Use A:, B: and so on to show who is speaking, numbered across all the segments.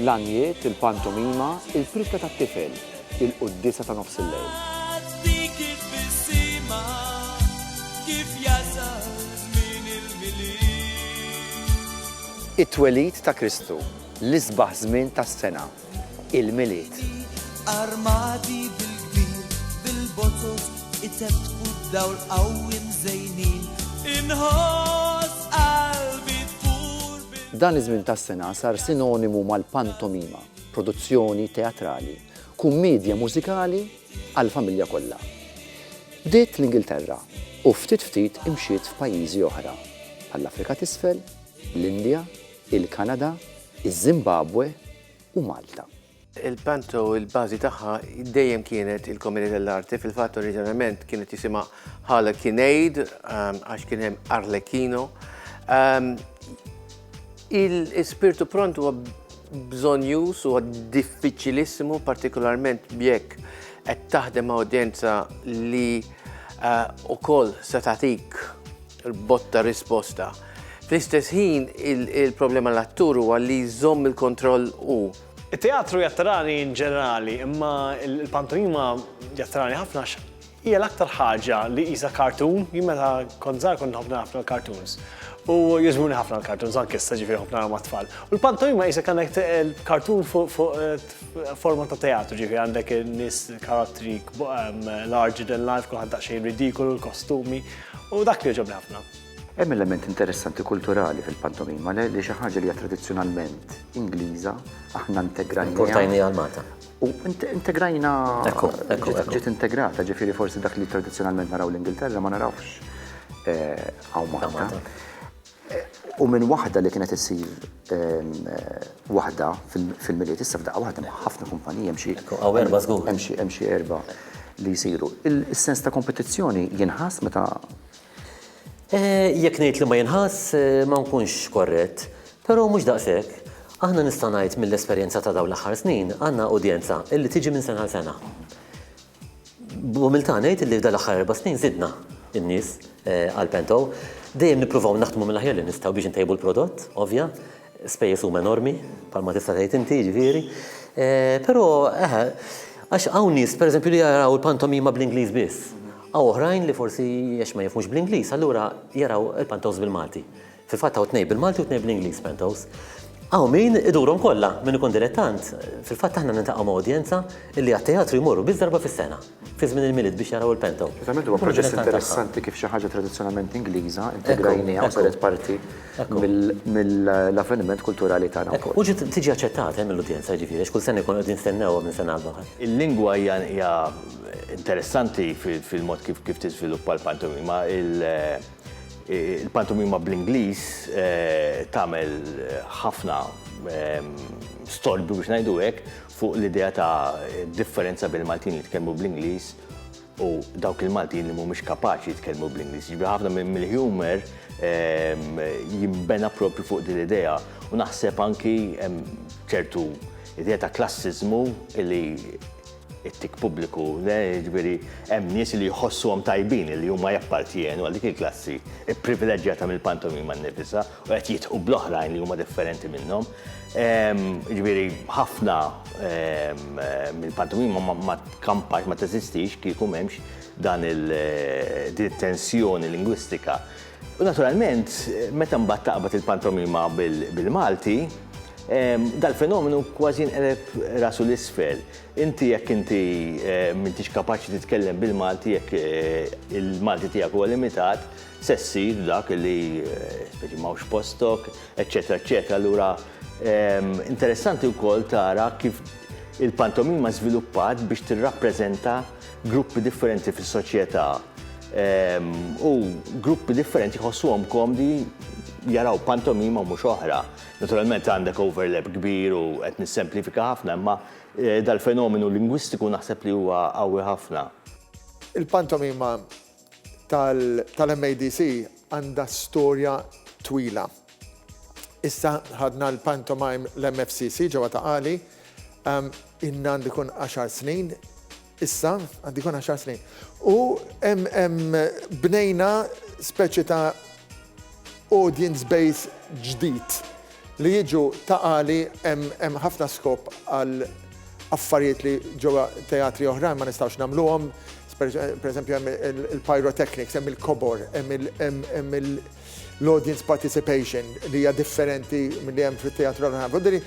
A: L-għanjiet, il-pantomima, il-prikka tat-tifel, il-quddiesa ta' nofs il-lejl. It-twelid ta' Kristu, l-isbaħ żmien tas-sena,
B: il-Milied. Dan iż-żmien tas-sena
A: sar sinonimu mal-pantomima, produzzjoni teatrali, kummiedja mużikali għall-familja kollha. Bdiet l-Ingilterra u ftit ftit imxiet f'pajjiżi oħra, bħall-Afrika t'Isfel, l-Indja, il-Kanada, iż-Żimbabwe u Malta. Il-Panto
C: il-bażi tagħha dejjem kienet il-Comune dell'Arte, fil-fatt oriġinarjament kienet jisimha Hala Kinejd ehm, għax kien hemm Arlecchino. Ehm, Il-spirtu pront huwa bżonjus u diffiċilissimu partikolarment bjekk qed taħdem awdjenza li eh, u koll se tagħtik botta risposta. Fl-istess ħin il-problema l-attur huwa li jżomm il-kontroll u It-teatru
D: jattrani in ġenerali, imma l-pantomima jattrani ħafna għax hija l-aktar ħaġa li qisha cartoon, jien meta kont żgħar kont nħobb nara ħafna l-cartoons. U jogħġbuni ħafna l-cartoons anke issa ġifieri nħobb nara mat-tfal. U l-pantomima qisha k'għandek cartoon fuq forma ta' teatru, ġifieri għandek in-nies karattri larger than life, kulħadd daqsxejn ridikolu, l-kostumi, u dak li jogħġobni ħafna. Hemm element
A: interessanti kulturali fil-pantomima li li xi ħaġa li hija tradizzjonalment Ingliża, aħna integrajniha. Importajniha għal Malta.
E: U
A: integrajna. Ekku, ekku, ekku. Ġiet integrata, ġifieri forsi dak li tradizzjonalment naraw l-Ingilterra ma narawx hawn Malta. U minn waħda li kienet issir waħda fil-Milied, issa f'daqqa waħda hemm ħafna kumpaniji, hemm xi. Ekku, hawn erba' żgur. Hemm xi erba' li jsiru. Is-sens ta' kompetizzjoni jinħass meta
E: Jekk ngħid li ma jinħass, ma nkunx korrett. Però mhux daqshekk. Aħna nista' ngħid mill-esperjenza ta' dawn l-aħħar snin għandna udjenza li tiġi minn sena għal sena. B'umiltà ngħid li f'dan l-aħħar erba' snin żidna n-nies għal Pento. Dejjem nippruvaw naħdmu mill-aħjar li nistgħu biex intejbu l-prodott, ovvja. Spejjeż huma enormi, bħalma tista' tgħid inti, jiġifieri. Però, eħe, għax hawn nies, pereżempju, li jaraw il-pantomima bl-Ingliż biss. Hawn oħrajn li forsi għax ma jifhmux bl-Ingliż allura jaraw il-pantos bil-Malti. Fil-fatt hawn tnejn bil-Malti u tnejn bl-Ingliż pantos. Hawn min idurhom kollha, min ikun dilettant. Fil-fatt aħna niltaqgħu ma' udjenza li għat-teatru jmorru biss darba fis-sena, fi żmien il-Milied biex jaraw il-panto. Verament huwa proċess
A: interessanti kif xi ħaġa tradizzjonalment Ingliża integrajnieha u saret parti mill-avveniment kulturali tagħna wkoll. U ġiet tiġi aċċettata
E: mill-udjenza jiġifieri għax kull sena jkunu qegħdin jistennewha minn sena għall-oħra. Il-lingwa hija
F: Interessanti fil-mod kif tiżviluppa l-pantomima, il-pantomima bl-Ingliż tagħmel ħafna storbju biex ngħidu hekk fuq l-idea ta' differenza bejn il-Maltin li jitkellmu bl-Ingliż u dawk il-Maltin li mhumiex kapaċi jitkellmu bl-Ingliż. Jiġifieri ħafna mill-humor jinbena proprju fuq din l-idea u naħseb anki hemm ċertu idea ta' klassiżmu li it-tik pubbliku, jiġifieri hemm nies li jħossuhom tajbin li huma jappartjenu għal dik il-klassi pprivileġġjata mill-pantomima nnifisha u qed jidħqu bl-oħrajn li huma differenti minnhom. Ehm, jiġifieri ħafna ehm, mill-pantomima ma tkampax ma teżistix kieku m'hemmx dan il-tensjoni eh, lingwistika U naturalment, meta mbagħad taqbad il-pantomima bil-Malti, dal-fenomenu kważi jinqleb rasu 'l isfel. Inti jekk inti m'intix kapaċi titkellem bil-Malti, jekk il-Malti tiegħek huwa limitat, se ssir dak li m'hawnx postok, eċċetera eċċetera. Allura interessanti wkoll tara kif il-pantomima żviluppat biex tirrappreżenta gruppi differenti fis-soċjetà u gruppi differenti jħossuhom komdi jaraw pantomima u mhux oħra. Naturalment għandek overlap kbir u qed nissemplifika ħafna imma dal-fenomenu lingwistiku naħseb li huwa qawwi ħafna. Il-pantomima
G: tal-MADC għandha storja twila. Issa ħadna l-pantomime l-MFCC ġewwa Ta' Qali, ilna għandu jkun għaxar snin, issa għandu jkun għaxar snin, u bnejna speċi ta' audience base ġdid. Li jiġu ta' Għali hemm ħafna skop għal affarijiet li ġewwa teatri oħrajn ma nistgħux nagħmluhom. Per eżempju hemm il-pyrotechnics, hemm il-kobor, hemm l-audience participation li hija differenti milli hemm fit-teatri l-oħrajn. Jiġifieri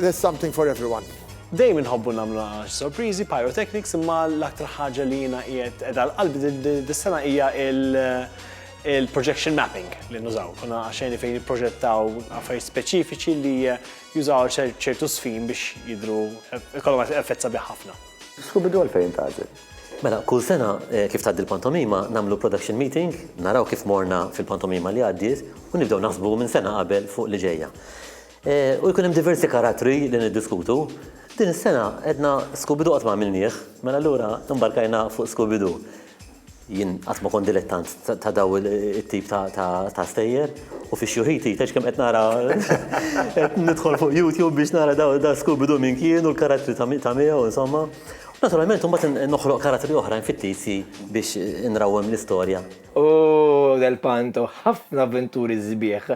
G: there's something for everyone. Dejjem inħobbu
D: nagħmlu nagħaġ, sorpriżi, pyrotechnics imma l-aktar ħaġa li jiena qiegħed qiegħda għal qalbi dis-sena hija Il-projection mapping li nużaw, konna xeni fejn nipproġettaw affarijiet speċifiċi li jużaw ċertu sfin biex jidhru ikollhom effett sabiħ ħafna. Scooby-Doo għalfejn
A: intgħażel? Mela, kull sena
E: kif tgħaddi l-pantomima nagħmlu production meeting, naraw kif morna fil-pantomima li għaddiet u nibdew naħsbu minn sena qabel fuq li ġejja. U jkun hemm diversi karattri li niddiskutu. Din is-sena għedna Scooby-Doo qatt ma għamilnieh, mela allura imbarkajna fuq Scooby-Doo. Jien qatt ma kont dilettant ta' dawn it-tip ta' stejjer u fix-xhur ħin tgħidx kemm qed nara qed nidħol fuq YouTube biex nara dan Scooby-Doo min kien u l-karattri ta' miegħu insomma. U naturalment imbagħad noħloq karattri oħrajn fit-tizji biex inrawwem l-istorja. U Del
H: Panto, ħafna avventuri sbieħ,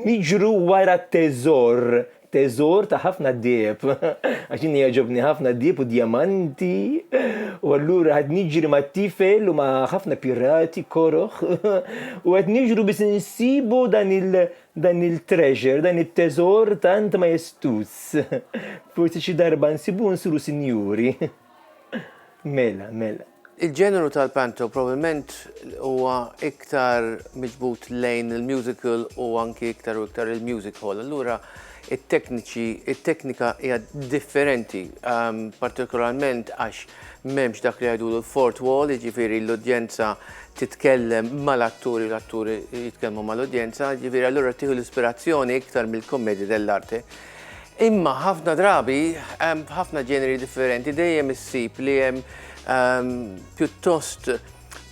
H: niġru wara teżor Teżor ta' ħafna deheb, għax jiena jogħġobni ħafna d-deheb u d-djamanti, u allura qed niġri mat-tifel u ma' ħafna pirati koroh u qed niġru biex insibu dan il dan il-treasure, dan it-teżor tant majestuż. Forsi xi darba nsibuh nsiru sinjuri. Mela, mela.
C: Il-ġeneru tal-panto probabbilment huwa iktar miġbud lejn il-musical u anki iktar u iktar il-music hall. Allura it-tekniċi, it-teknika hija differenti, ehm, partikolarment għax m'hemmx dak li jgħidulu l-fort wall, jiġifieri l-udjenza titkellem mal-atturi, l-atturi jitkellmu mal-udjenza, jiġifieri allura tieħu l-ispirazzjoni iktar mill-kommedja dell'arte. Imma ħafna drabi, f'ħafna ġeneri differenti dejjem issib li hemm pjuttost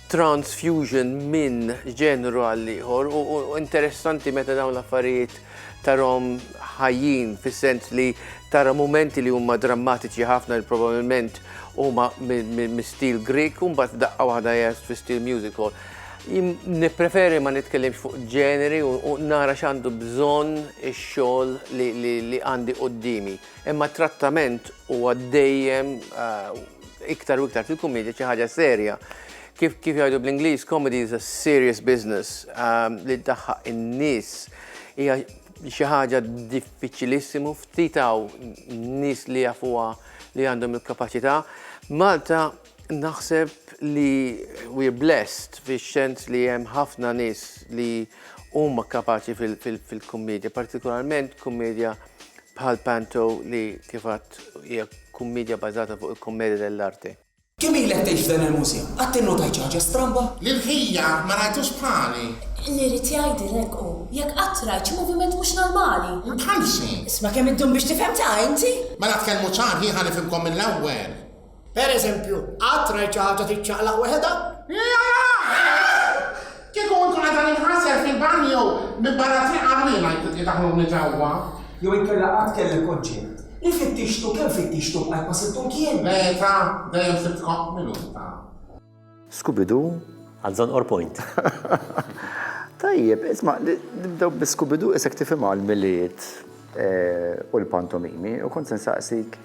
C: transfusion minn ġenru għal ieħor u interessanti meta dawn l-affarijiet tarhom ħajjin fis-sens li tara mumenti li huma drammatiċi ħafna li probabilment huma mis-stil Grieg u mbagħad daqqa waħda jgħid fi stil musical. Nippreferi ma nitkellimx fuq ġeneri u nara x'għandu bżonn ix-xogħol li għandi quddiemi. Imma t-trattament huwa dejjem iktar u iktar fil-kumedja xi ħaġa serja. Kif jgħidu bl-Ingliż, comedy is a serious business li ddaħħaq in-nies hija xi ħaġa diffiċilissimu, ftit hawn nies li jafuha li għandhom il-kapaċità. Malta Naħseb li we're blessed fix-xens li hemm ħafna nies li huma kapaċi fil-kummedja, partikolarment kummedja bħal Panto li kif għadt hija kummedja bbażata fuq il-commedia dell'arte. Kemm ilek tgħix
I: f'dan il-mużew? Qatt innotajt xi ħaġa stramba? Lil ħija ma
J: rajtux bħali. Li jrid jgħidli
K: hekk hu, jekk qatt rajt xi moviment mhux normali. Bħal xi. Isma'
J: kemm iddum biex
K: tifhem ta' inti! Mela tkellmu ċar
J: ħieħ ħa nifhimkom mill-ewwel. Per eżempju,
I: qatt rajt xi ħaġa tiċċaqlaq weħedha?
J: Kieku nkun għadha ninħasel fil-banju minn barra
I: triq
J: għarwina
I: jkun
J: daħlu minn
I: ġewwa.
J: Jew inkella
I: qatt
J: kellek
I: konċett
J: li
I: fittixtu kemm fittixtu bqajt ma sibtu mkien. Beta, dejjem
J: sibt kop minuta. Scooby-Doo.
A: Għal Zonqor
E: Point.
A: Tajjeb, isma' nibdew bi Scooby-Doo isek tifhimha l-Milied u l-pantomimi u kont se nsaqsik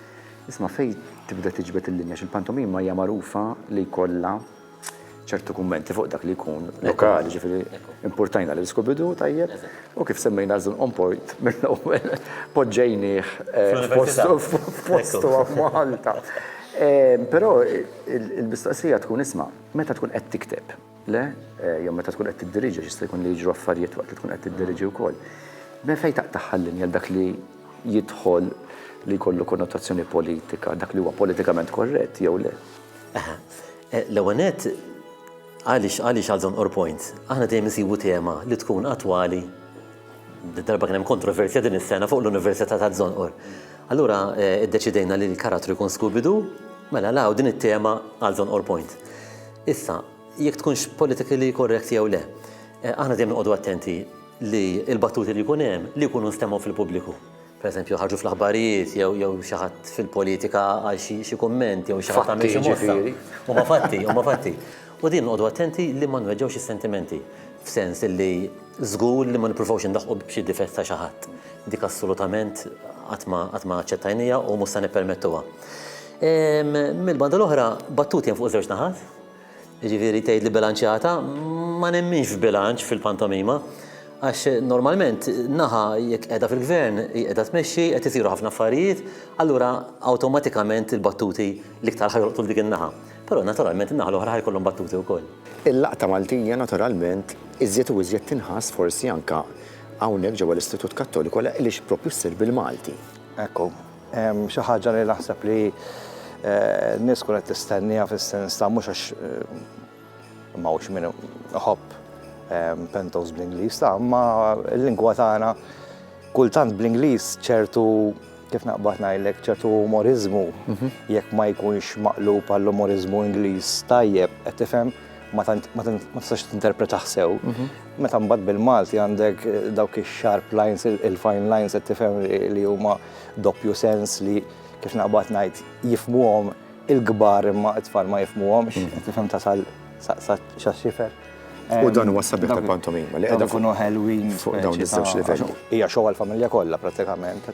A: isma' fejn tibda tiġbed il-linja x'il-pantomima hija magħrufa li jkollha ċertu kummenti fuq dak li jkun lokali, ġifiri, importajna li skubidu, tajjeb, u kif semmejna zun on point, minn ewwel poġġejnieh eh, f'postu għaf Malta. Eh, Pero Il-mistoqsija tkun isma' meta tkun qed tikteb, le? Jew meta tkun qed tiddiriġi x'jista' jkun li jiġru affarijiet waqt li tkun qed tiddiriġi wkoll. Minn fejn taqtagħha l-linja dak li jidħol li jkollu konnotazzjoni politika, dak li huwa politikament korrett jew le? Aha. L-ewwel nett,
E: għaliex għaliex għal żonqor point? Aħna dejjem insibu tema li tkun attwali Darba kien hemm kontroversja din is-sena fuq l-Università ta' Żonqor. Allura eh, iddeċidejna li l-karattru jkun Scooby-Doo, mela law din it-tema għal Żonqor Point. Issa, jekk tkunx politically correct jew le, eh, aħna dejjem noqogħdu attenti li l-battuti li jkun hemm li jkunu nstemgħu fil-pubbliku. pereżempju ħarġu fl-aħbarijiet jew jew xi ħadd fil-politika għal xi xi kumment jew xi ħadd għamel xi mossa. Ġifieri. Huma fatti, huma fatti. U din noqogħdu attenti li ma nweġġgħux is-sentimenti f'sens illi żgur li ma nippruvawx indaħħqu b'xi difett ta' xi ħadd. Dik assolutament qatt ma qatt ma aċċettajnija u mhux se nippermettuha. Mill-banda l-oħra, battuti hemm fuq żewġ naħat, Jiġifieri tgħid li bilanċjata, ma nemminx f'bilanċ fil-pantomima għax normalment naħa jekk qiegħda fil-Gvern hi qiegħda tmexxi qed isiru ħafna affarijiet, allura awtomatikament il-battuti l-iktar ħa jolqtu f'dik in-naħa. Però naturalment in-naħa l-oħra ħa jkollhom battuti wkoll. Il-Laqta Maltija
A: naturalment iżjed u iżjed tinħass forsi anke hawnhekk ġewwa l-Istitut Kattoliku għaliex proprju ssir bil-Malti. Ekku.
L: Hemm xi ħaġa li naħseb li n-nies tkun qed tistenniha fis-sens ta' mhux għax ma hux min iħobb pentos bl-Ingliż ta' imma l-lingwa tagħna kultant bl-Ingliż ċertu kif naqbad ngħidlek ċertu umoriżmu mhm. jekk ma jkunx maqlub għall-umoriżmu Ingliż tajjeb qed tifhem ma tistax tinterpretah sew. Mhm. Meta mbagħad bil-Malti għandek dawk ix-sharp lines, il-fine lines qed tifhem li huma doppju sens li kif naqbad ngħid jifhmuhom il-kbar imma t-tfal ma jifhmuhomx, qed tifhem tasal sa xifer. U dan huwa
A: s-sabiħ tal-pantomima li qiegħda fuq ikunu ħelwin fuq
L: dawn iż-żewġ
A: livelli. Hija xogħol familja
L: kollha prattikament.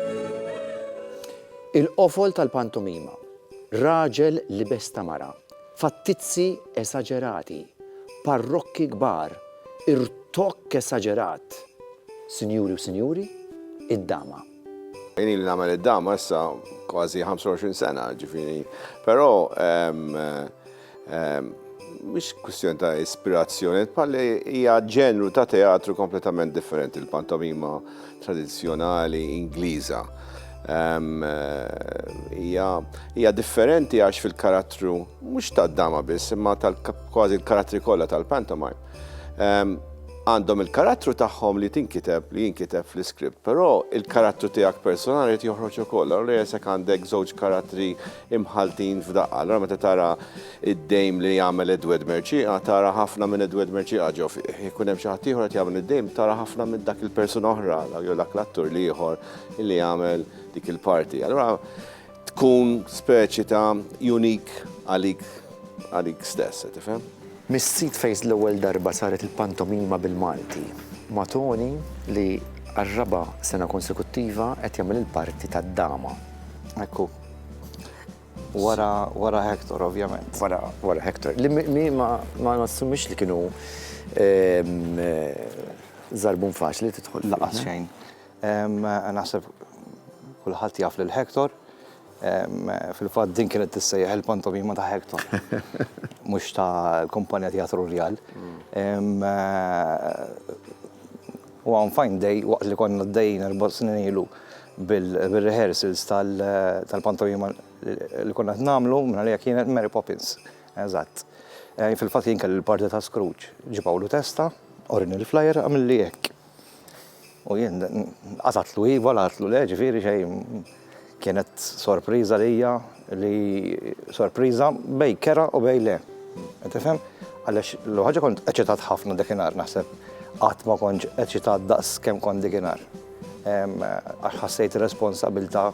A: Il-qofol tal-pantomima, raġel libes ta' mara, fattizzi esaġerati, parrokki kbar, irtokk esaġerat, sinjuri u sinjuri, id-dama. Jien
M: ili nagħmel id-dama issa kważi 25 sena, ġifieri, però, Mhix kwistjoni ta' ispirazzjoni, bħal hija ġenru ta' teatru kompletament differenti l-pantomima tradizzjonali Ingliża. Hija differenti għax fil-karattru mhux tad-dama biss, imma kważi l-karattri kollha tal-pantomime għandhom il-karattru tagħhom li tinkiteb, li jinkiteb fl-iskript, però l-karattru tiegħek personali jrid joħroġ ukoll. Allura jekk għandek żewġ karattri imħalltin f'daqqa. Allura meta tara id-dejm li jagħmel Edward Merċieqa, tara ħafna minn Edward Merċieqa ġo fih. Ikun hemm xi ħadd ieħor qed jagħmel id-dejm, tara ħafna minn dak il-persuna oħra jew dak l-attur li ieħor li jagħmel dik il-parti. Allura tkun speċi ta' unik għalik għalik stess, tifhem? Mis-sit fejn
A: l-ewwel darba saret il-pantomima bil-Malti, ma' Toni li għar-raba' sena konsekuttiva qed jagħmel il-parti tad-dama. Ekku.
L: Wara, wara Hector, ovvjament. Wara, wara Hector. Li
A: mi ma nassumix li kienu ehm, zarbun faċli titħol. Laqas xejn.
L: Ehm, naħseb kulħadd jaf lil Hector. Ehm, fil-fatt din kienet tissejjaħ il-pantomima ta' Hector. Mhux ta' l-kumpanija teatru Rjal. Mm. Eh, U hawn f'Għajn Dej, waqt li konna għaddejjin erba' snin ilu bir-rehearsals tal-pantomima li konna qed nagħmlu, mingħalija kienet Mary Poppins. Eżatt. Fil-fatt jien kelli l-parti ta' Scrooge. Ġie Pawlu Testa, urini l-flyer, għamilli hekk. U jien qatgħatlu iva, l-għidtlu le, ġifieri xejn. Kienet sorpriża lija li sorpriża bej kera u bej le. Qed tifhem? Għaliex l ħaġa kont eċitat ħafna dakinhar naħseb qatt ma kontx eċitat daqs kemm kont dikinhar. Għax ħassejt responsabilità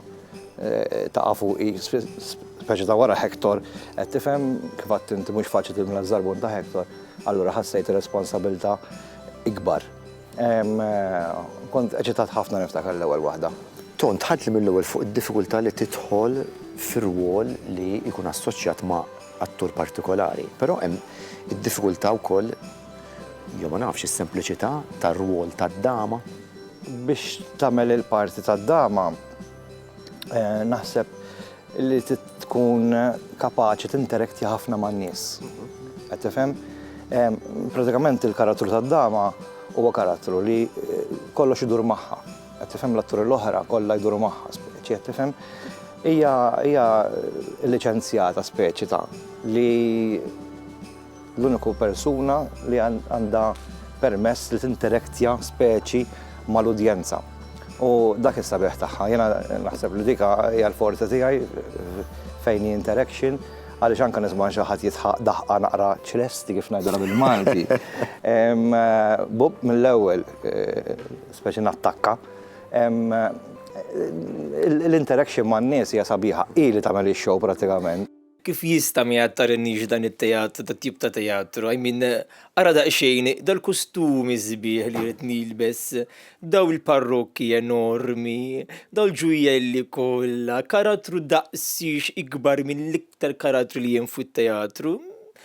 L: eh, ta' fuqi, speċi ta' wara Hector, qed tifhem kif għadt inti mhux faċli tilmla żarbun ta' Hector, allura ħassejt responsabilità ikbar. Kont eċitat ħafna niftakar l-ewwel waħda. Ton, dħaltli
A: mill-ewwel fuq id-diffikultà li tidħol fi rwol li jkun assoċjat ma' attur partikolari. Però hemm id-diffikultà wkoll, jew ma nafx, is-sempliċità tar-rwol tad-dama. Biex
L: tagħmel il-parti tad-dama, naħseb Li tkun kapaċi tinterektja ħafna man-nies. Qed tifhem? Pratikament il-karattru tad-dama huwa karattru li kollox idur magħha. Qed tifhem? L-atturi l-oħra kollha jduru magħha, speċi, qed tifhem? Hija hija liċenzjata speċi ta' li L-uniku persuna li għandha permess li tinterektja speċi mal-udjenza. U dak is-sabiħ tagħha. Jiena naħseb li dik hija l-forza tiegħi fejn hi interaction għaliex anke nisma' xi ħadd jisħaq daħqa naqra ċresti kif ngħidulha bil-Malti. Bub mill-ewwel speċi nattakka. L-interaction man-nies hija sabiħa. Hi li tagħmel ix-show prattikament. Kif jista'
H: ma jgħattarinix dan it-teatru, dat tip ta' teatru? I mean, ara daqsxejn dal-kustumi sbieħ li rrid nilbes, daw il-parrokki enormi, daw il-ġujjelli kollha, karattru daqsxx ikbar mill-iktar karattru li hemm fit-teatru.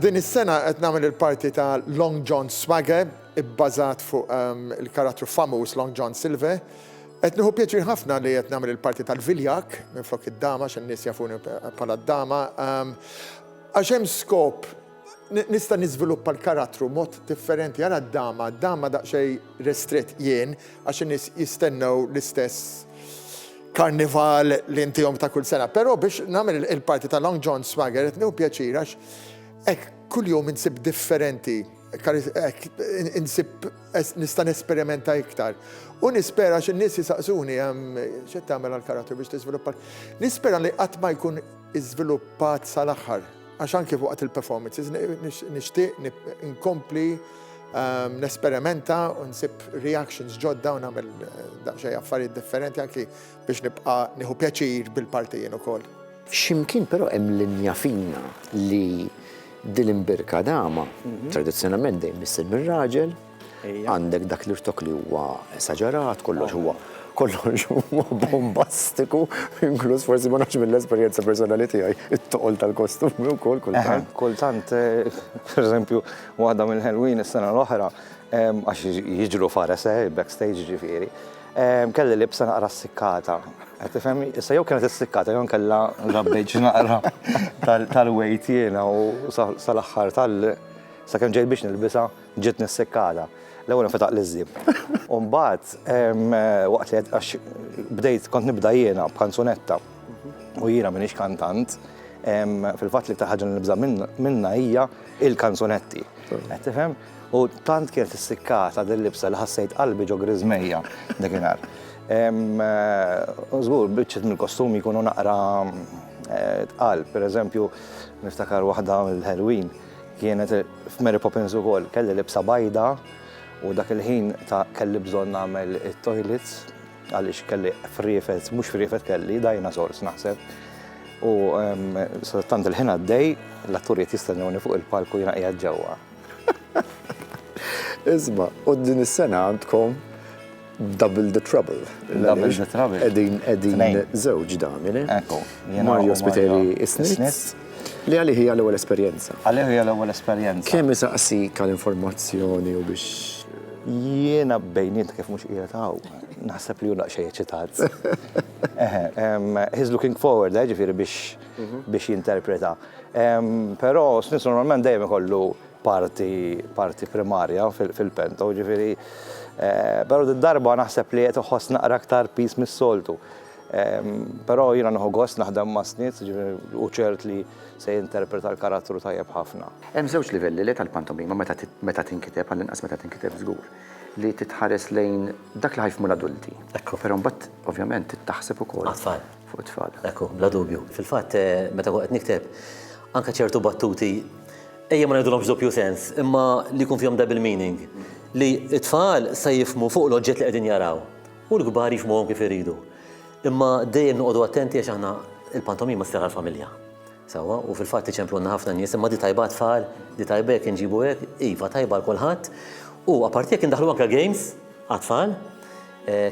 G: Din is-sena qed nagħmel il-parti ta' Long John Swagger, ibbażat fuq il-karattru famuż Long John Silver. Qed nieħu pjaċir ħafna li qed nagħmel il-parti tal-viljak minflok id-dama għax in-nies jafuni bħala d-dama. Għax hemm skop Nista' niżviluppa l-karattru mod differenti, ara d-dama, d-dama daqsxejn restritt jien għax in-nies jistennew l-istess karnival li ntihom ta' kull sena. Però biex nagħmel il-parti ta' Long John Swagger qed nieħu pjaċir għax hekk kuljum insib differenti, hekk insib nista' nesperimenta iktar. U nispera għax in-nies isaqsuni x'qed tagħmel għall-karattru biex tiżviluppa. Nispera li qatt ma jkun iżviluppat sal-aħħar. Għax anki waqt il-performances nixtieq nkompli ehm, nesperimenta u nsib reactions ġodda u nagħmel eh, daqsxejn affarijiet differenti anki biex nibqa' nieħu pjaċir bil-partijin ukoll. Ximkien però
A: hemm linja fina li dil-imbirka dama mhm. tradizzjonalment dejjem issir mir-raġel, Għandek dak l-irtok li huwa esaġerat, kollox huwa kollox huwa bombastiku, inkluż forsi ma nafx mill-esperjenza personali tiegħi, it-toqol tal-kostumi wkoll kultant. Kultant, eh,
L: per eżempju, waħda mill-Halloween is-sena l-oħra, għax jiġru fares eh, backstage ġifieri, kelli libsa naqra s-sikkata. Tifhem, issa jew kienet is-sikkata jew kellha rabbejġ naqra tal-wejt jiena u sal-aħħar tal- sakemm ġejt biex nilbisa Ġiet nissekkata. L-ewwel infetaq l-iżżi. U mbagħad waqt li għax bdejt kont nibda jiena b'kanzunetta u jiena m'iniex kantant, fil-fatt l-iktar ħaġa li nibża' minnha hija l-kanzunetti. Qed tifhem? U tant kienet issikkata din libsa li ħassejt qalbi ġo griżmejja dakinhar. U żgur biċċiet mill-kostumi jkunu naqra tqal. Pereżempju, niftakar waħda mill-Halloween. Kienet f'Mary Poppins ukoll, kelli libsa bajda u dak il-ħin ta' kelli bżonn nagħmel it-toilets għaliex kelli friefet, mhux friefet kelli, dinosaurs naħseb. U tant il-ħin għaddej, l-atturi qed jistennewni fuq il-palku jiena qiegħed ġewwa.
A: Isma', u din is-sena għandkom Double the trouble. Double the trouble.
L: Edin, edin,
A: zewġ damine. Ekku. Mario
L: Spiteri
A: Isnitz. Li għalli hija l-ewwel esperjenza. Għalli hija l-ewwel
L: esperjenza. Kemm isaqsi kal
A: informazzjoni u biex. Jiena
L: bejniet kif mhux qiegħed hawn. Naħseb li hu naqxej eċitat. He's looking forward, eh, ġifieri biex mhm. biex jinterpreta. Però Snitz normalment dejjem ikollu parti parti primarja fil-pento, ġifieri però din darba naħseb li qed iħoss naqra aktar piż mis-soltu. Però jiena nieħu gost naħdem ma' Snits, ġifieri hu ċert li se jinterpreta l-karattru tajjeb ħafna. Hemm żewġ livelli le
A: tal-pantomima meta tinkiteb, għall-inqas meta tinkiteb żgur, li titħares lejn dak li ħa jifhmu l-adulti. Ekku. Però mbagħad ovvjament trid taħseb ukoll. Għat-tfal. Fuq it-tfal. Ekku, bla dubju.
E: Fil-fatt meta kont qed nikteb anke ċertu battuti, ejja ma ngħidulhomx doppju sens, imma li jkun fihom double meaning, li t-tfal sa jifhmu fuq l-oġġett li qegħdin jaraw u l-kbar jifhmuhom kif iridu. Imma dejjem noqogħdu attenti għax aħna il-pantomima ssir għall-familja. Sewwa, u fil-fatt iċemplulna ħafna nies, imma di tajba għat-tfal, di tajba jekk inġibu hekk, iva tajba għal kulħadd. U apparti jekk indaħħlu anke games għat-tfal,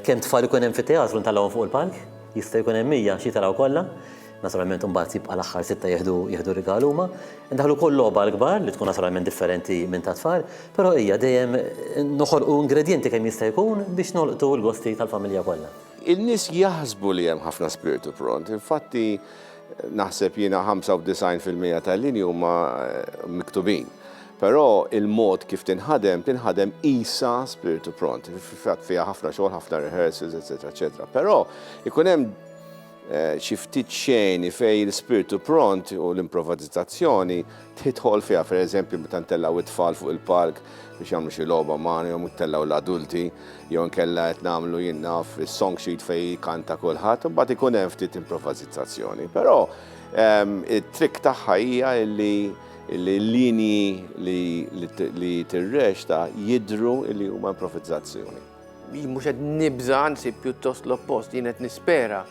E: kemm tfal ikun hemm fit-teatru ntellgħuhom fuq il-palk, jista' jkun hemm 100 xi jtellgħu kollha, Naturalment imbagħad jibqa' l-aħħar sitta jieħdu jieħdu rigal huma. Indaħħlu wkoll logħba għal kbar li tkun naturalment differenti minn ta' tfal, però hija dejjem noħolqu ingredjenti kemm jista' jkun biex nolqtu l-gosti tal-familja kollha. In-nies jaħsbu
M: li hemm ħafna spirtu pront, infatti naħseb jiena 95 fil-mija tal-linji huma miktubin. Però il-mod kif tinħadem, tinħadem qisha spirtu pront. Fil-fatt fiha ħafna xogħol, ħafna rehearsals, eċċetera, eċċetera. Però jkun hemm. xi ftit xeni fejn il-spirtu pront u l-improvazizazzjoni tidħol fiha, per eżempju meta ntellgħu it-tfal fuq il-palk biex jagħmlu xi logħba magħna jew ntellgħu l-adulti jew inkella qed nagħmlu jien naf is-song sheet fejn jkanta kulħadd, imbagħad ikun hemm ftit improvazizazzjoni. Però ehm, it-trick tagħha hija li l-linji li tirrexta jidru li huma improvizzazzjoni. Jien mhux qed
C: nibża' anzi pjuttost l-oppost, jien qed nispera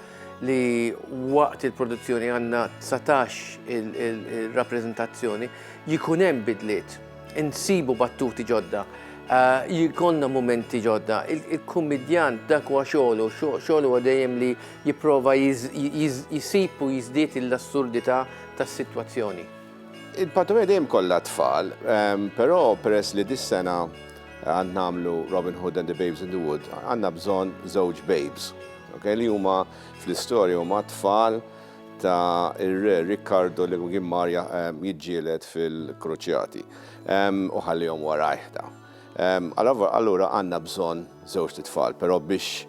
C: li waqt il-produzzjoni għandna 19 il-rappreżentazzjoni jkun hemm bidliet, insibu battuti ġodda, eh, jkollna mumenti ġodda. Il-kummedjant dak huwa xogħlu, xogħlu huwa dejjem li jipprova jisib u jiżdied l-assurdità tas-sitwazzjoni. Il-patumija
M: dejjem kollha tfal, però peress li dis-sena għad nagħmlu Robin Hood and the Babes in the Wood, għandna bżonn żewġ babes, okay, li huma fl-istorja huma tfal ta' ir-Re Riccardo li kien mar jiġġieled fil-Kruċjati u ħallihom warajh dawn. Allura għandna bżonn żewġt itfal, però biex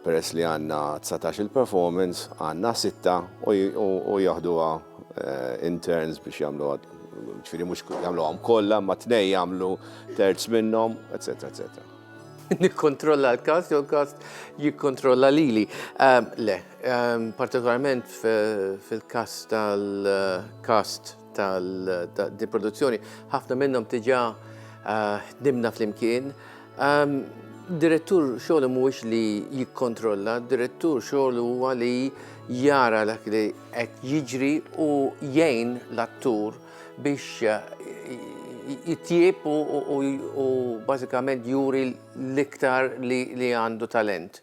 M: Peress li għandna dsatax-il performance, għandna sitta u jaħduha in turns biex jagħmluha, ġifieri mhux jagħmluhom kollha imma tnejn jagħmlu terz minnhom, eċċetera eċċetera. Nikkontrolla
C: l-kast jew l-kast jikkontrolla lili. Ehm, le, ehm, partikolarment fil-kast tal-kast tal-produzzjoni, ħafna minnhom tiġa eh, ħdimna fl-imkien, Direttur xogħlu mhuwiex li jikkontrolla, direttur xogħlu huwa li jara dak li qed jiġri u jgħin l-attur biex jitjieb u bażikament juri l-iktar li għandu talent.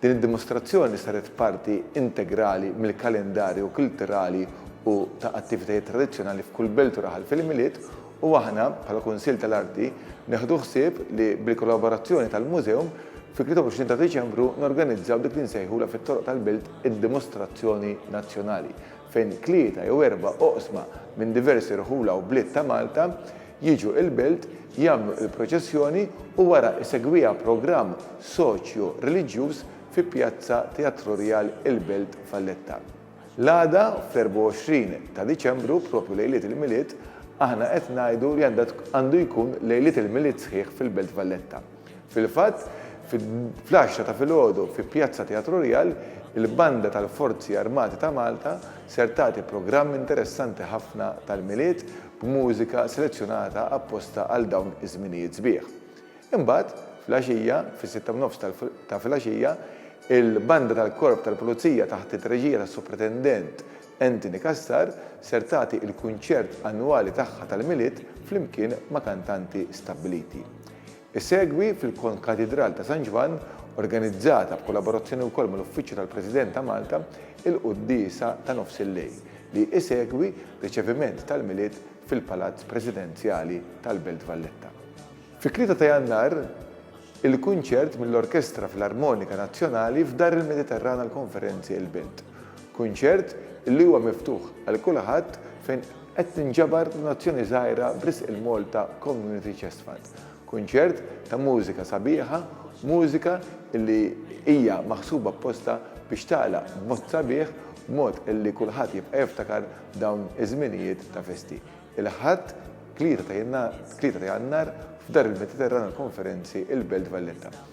G: Din id-dimostrazzjoni saret parti integrali mill-kalendarju kulturali u ta' attivitajiet tradizzjonali f'kull belt u raħal fil-Milied u aħna, bħala Kunsill tal-Arti, neħdu ħsieb li bil-kollaborazzjoni tal-Mużeum, fit-23 ta' Diċembru norganizzaw dik li nsejħulha fit-toroq tal-Belt id-Dimostrazzjoni Nazzjonali. fejn tlieta jew erba' oqsma minn diversi rħula u bliet ta' Malta jiġu il-Belt, jagħmlu il-proċessjoni u wara isegwiha programm soċju reliġjuż fi Pjazza Teatro Rial il-Belt Valletta. L-għada, fl-24 ta' Diċembru, propju lejliet il-Milied, aħna qed ngħidu li għandu jkun lejliet il-Milied sħiħ fil-Belt Valletta. Fil-fatt, fl-għaxra ta' filgħodu fi Pjazza Teatru Rjal, il-Banda tal-Forzi Armati ta' Malta ser tagħti programm interessanti ħafna tal-Milied b'mużika selezzjonata apposta għal dawn iż-żminijiet sbieħ. Imbagħad, fl-għaxija, fis-sitta u nofs ta' filgħaxija, il-Banda tal-Korp tal-Pulizija taħt it-treġija tas-Supretendent Anthony Cassar ser tagħti il-kunċert annwali tagħha tal-Milied flimkien ma' kantanti stabbiliti. Isegwi fil-Konkatidral ta' San Ġwann, organizzata b'kollaborazzjoni wkoll mal-Uffiċċju tal-President ta' Malta, il-quddiesa ta' nofs il-lejl, li isegwi riċeviment tal-Milied fil-Palazz Presidenzjali tal-Belt Valletta. Fit-Tlieta ta' Jannar, il-kunċert mill-Orkestra Filarmonika Nazzjonali f'Dar il-Mediterran għall-Konferenzi il-Belt. Kunċert li huwa miftuħ għal kulħadd fejn Qed tinġabar donazzjoni żgħira b'risq il-Malta Community Chest Fund. Kunċert ta' mużika sabiħa, mużika li hija maħsuba apposta biex tagħlaq b'mod sabiħ b'mod li kulħadd jibqa' jiftakar dawn iż-żminijiet ta' festi. Il-Ħadd, tlieta ta' Jannar f'Dar il-Mediterran għall-Konferenzi, il-Belt Valletta.